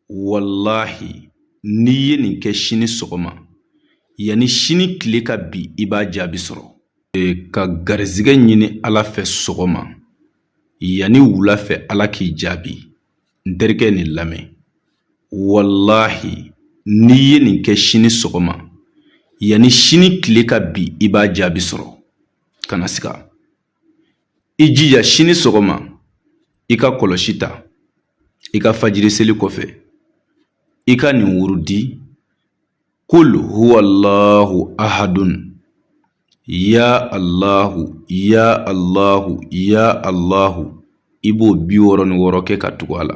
walahi n'i ye nin kɛ sini sɔgɔma yanni sini tile ka bi i b'a jaabi sɔrɔ ka garizigɛ ɲini ala fɛ sɔgɔma yanni wula fɛ ala k'i jaabi n terikɛ nin lamɛn walahi n'i ye nin kɛ sini sɔgɔma yanni sini tile ka bi i b'a jaabi sɔrɔ kana siga i jija sini sɔgɔma i ka kɔlɔsi ta i ka fajiri seli kɔfɛ i ka nin wurudi kul huwallahu ahadun ya allahu ya allahu ya allahu i b'o bi wɔɔrɔ ni wɔɔrɔ kɛ ka tugu a la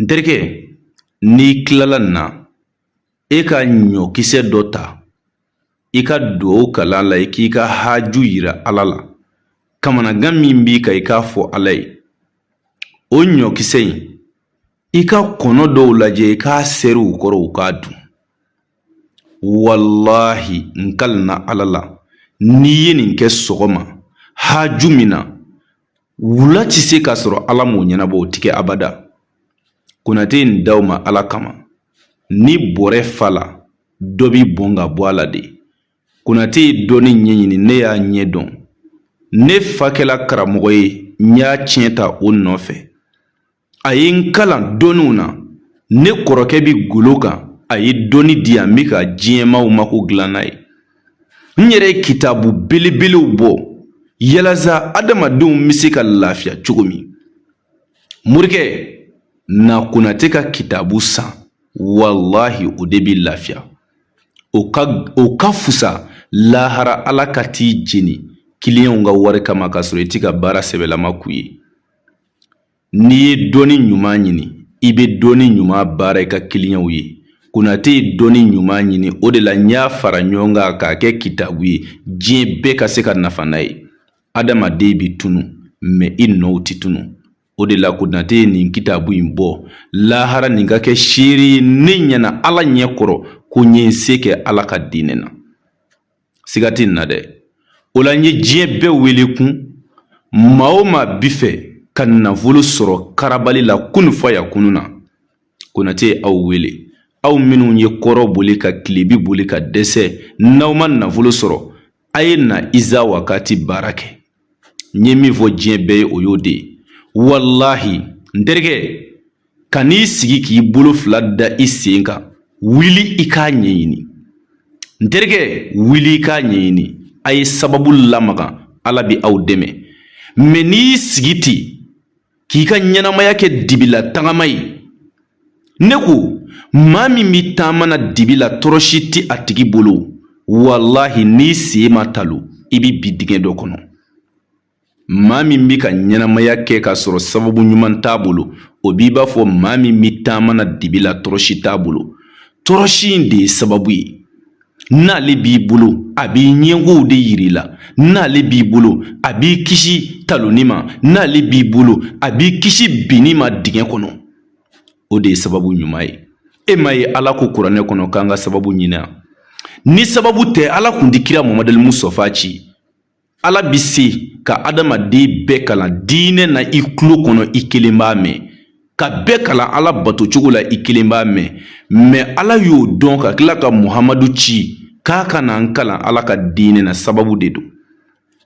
n terikɛ n'i tilala nin na e ka ɲɔkisɛ dɔ ta i ka dugawu kalan a la i k'i ka haju yira ala la kamanagan min b'i kan i k'a fɔ ala ye o ɲɔkisɛ in i ka kɔnɔ dɔw lajɛ i k'a seri u kɔrɔ u k'a dun walahi n kalina ala la n'i ye nin kɛ sɔgɔma haju min na Wula tɛ se k'a sɔrɔ Ala m'o ɲɛnabɔ o tɛ kɛ abada Konate ye nin d'aw ma Ala kama ni bɔrɛ fala dɔ bi bɔn ka bɔ a la de Konate ye dɔnni ɲɛɲini ne y'a ɲɛ dɔn ne fa kɛla karamɔgɔ ye n y'a tiɲɛ ta o nɔfɛ a ye n kalan dɔnniw na ne kɔrɔkɛ bi golo kan a ye dɔnni di yan n bɛ ka diɲɛmaaw mako dilan n'a ye n yɛrɛ ye kitabu belebelew bɔ yalasa adamadenw bɛ se ka lafiya cogo min morikɛ na konate ka kitabu san walahi o de bɛ lafiya o ka fusa lahara ala ka t'i jeni kiliyanw ka wari kama k'a sɔrɔ i tɛ ka baara sɛbɛlama k'u ye N'i ye dɔnni ɲuman ɲini i bɛ dɔnni ɲuman baara i ka kiliyanw ye konatɛ ye dɔnni ɲuman ɲini o de la n y'a fara ɲɔgɔn kan k'a kɛ kitabu ye diɲɛ bɛɛ ka se ka nafa n'a ye adamaden bɛ tunu mɛ i nɔw tɛ tunu o de la konatɛ ye nin kitabu in bɔ lahara nin ka kɛ seere ye ne ɲɛna ala ɲɛ kɔrɔ ko n ye n se kɛ ala ka diinɛ na siga tɛ nin na dɛ o la n ye diɲɛ bɛɛ wele kun maa o maa bi fɛ ka nafolo sɔrɔ karabali la kunu fayakunu na konate ye aw wele aw minnu ye kɔrɔn boli ka tilebi boli ka dɛsɛ n'aw ma nafolo sɔrɔ a ye na iza wakati baara kɛ n ye min fɔ diɲɛ bɛɛ ye o y'o de ye walahi n terikɛ kan'i sigi k'i bolo fila da i sen kan wuli i k'a ɲɛɲini n terikɛ wuli i k'a ɲɛɲini a ye sababu lamaga ala bɛ aw dɛmɛ mɛ n'i y'i sigi ten k'i ka ɲɛnamaya kɛ dibila tagama ye ne ko maa min bɛ taama na dibi la tɔrɔsi tɛ a tigi bolo walahi n'i sen ma talo i bɛ bin dingɛ dɔ kɔnɔ maa min b'i ka ɲɛnamaya kɛ k'a sɔrɔ sababu ɲuman t'a bolo o b'i b'a fɔ maa min bɛ taama na dibi la tɔrɔsi t'a bolo tɔrɔsi in de ye sababu ye n'ale b'i bolo a b'i ɲɛkow de yir'i la n'ale b'i bolo a b'i kisi talonni ma n'ale b'i bolo a b'i kisi binni ma dingɛ kɔnɔ o de ye sababu ɲuman ye e m'a ye ala ko kuranɛ kɔnɔ k'an ka sababu ɲini a ni sababu tɛ ala kun ti kira mamadu mustafa ci ala bi se ka adamaden bɛɛ kalan diinɛ na i tulo kɔnɔ i kelen b'a mɛn ka bɛɛ kalan ala bato cogo la i kelen b'a mɛn mɛ ala y'o dɔn ka tila ka muhamadu ci k'a ka na an kalan ala ka diinɛ na sababu de don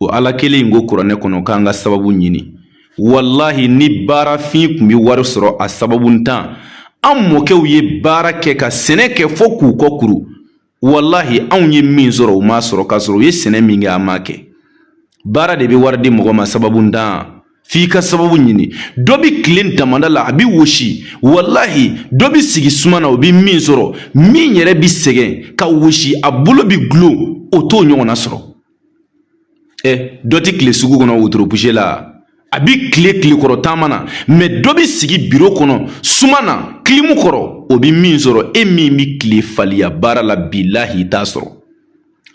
o ala kelen in ko kuranɛ kɔnɔ k'an ka sababu ɲini walahi ni baarafin kun bɛ wari sɔrɔ a sababu ntan an mɔkɛw ye baara kɛ ka sɛnɛ kɛ fo k'u kɔ kuru walahi anw ye min sɔrɔ u m'a sɔrɔ k'a sɔrɔ u ye sɛnɛ min kɛ an m'a kɛ baara de bɛ wari di mɔgɔ ma sababu ntan f'i ka sababu ɲini dɔ bɛ tilen damanda la a bɛ wosi walahi dɔ bɛ sigi suma na o bɛ min sɔrɔ min yɛrɛ bɛ sɛgɛn ka wosi a bolo bɛ gulon o t'o ɲɔgɔnna sɔrɔ ɛ dɔ ti tile sugu kɔnɔ wotoro puse la a bi tile tile kɔrɔ taama na mɛ dɔ bi sigi biro kɔnɔ suma na kilimu kɔrɔ o bi min sɔrɔ e min bi tile faliya baara la bilahi i t'a sɔrɔ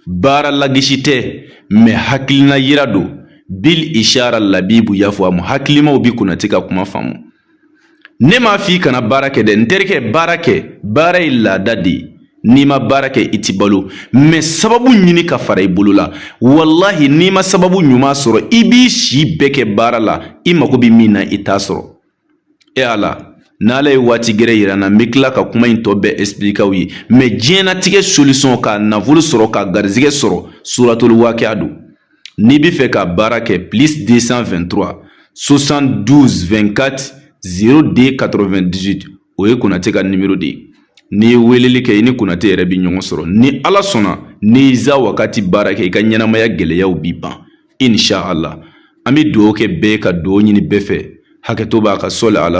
baara lagosi tɛ mɛ hakilina yira don bil ishara labibu yafuwamu hakilimaw bi Konate ka kuma faamu ne m'a f'i kana baara kɛ dɛ n terikɛ baara kɛ baara ye laada de ye n'i ma baara kɛ i ti balo mɛ sababu ɲini k'a fara i bolo la walahi n'i ma sababu ɲuman sɔrɔ i b'i si bɛɛ kɛ baara la i mago bɛ min na i t'a sɔrɔ e ala n'ala ye waati gɛrɛ yir'an na n bɛ tila ka kuma in tɔ bɛɛ expliquer aw ye mɛ diɲɛnatigɛ solution ka nafolo sɔrɔ ka garizigɛ sɔrɔ suratul wakiya don N'i b'a fɛ k'a baara kɛ plus 223 72 24 02 98 o ye Konate ka nimero de ye n'i ye weleli kɛ i ni Konate yɛrɛ bɛ ɲɔgɔn sɔrɔ ni Ala sɔnna n'i y'iza wakati baara kɛ i ka ɲɛnamaya gɛlɛyaw bi ban inch'Allah an bɛ dugawu kɛ bɛɛ ye ka dugawu ɲini bɛɛ fɛ hakɛto b'a kan sɔli ala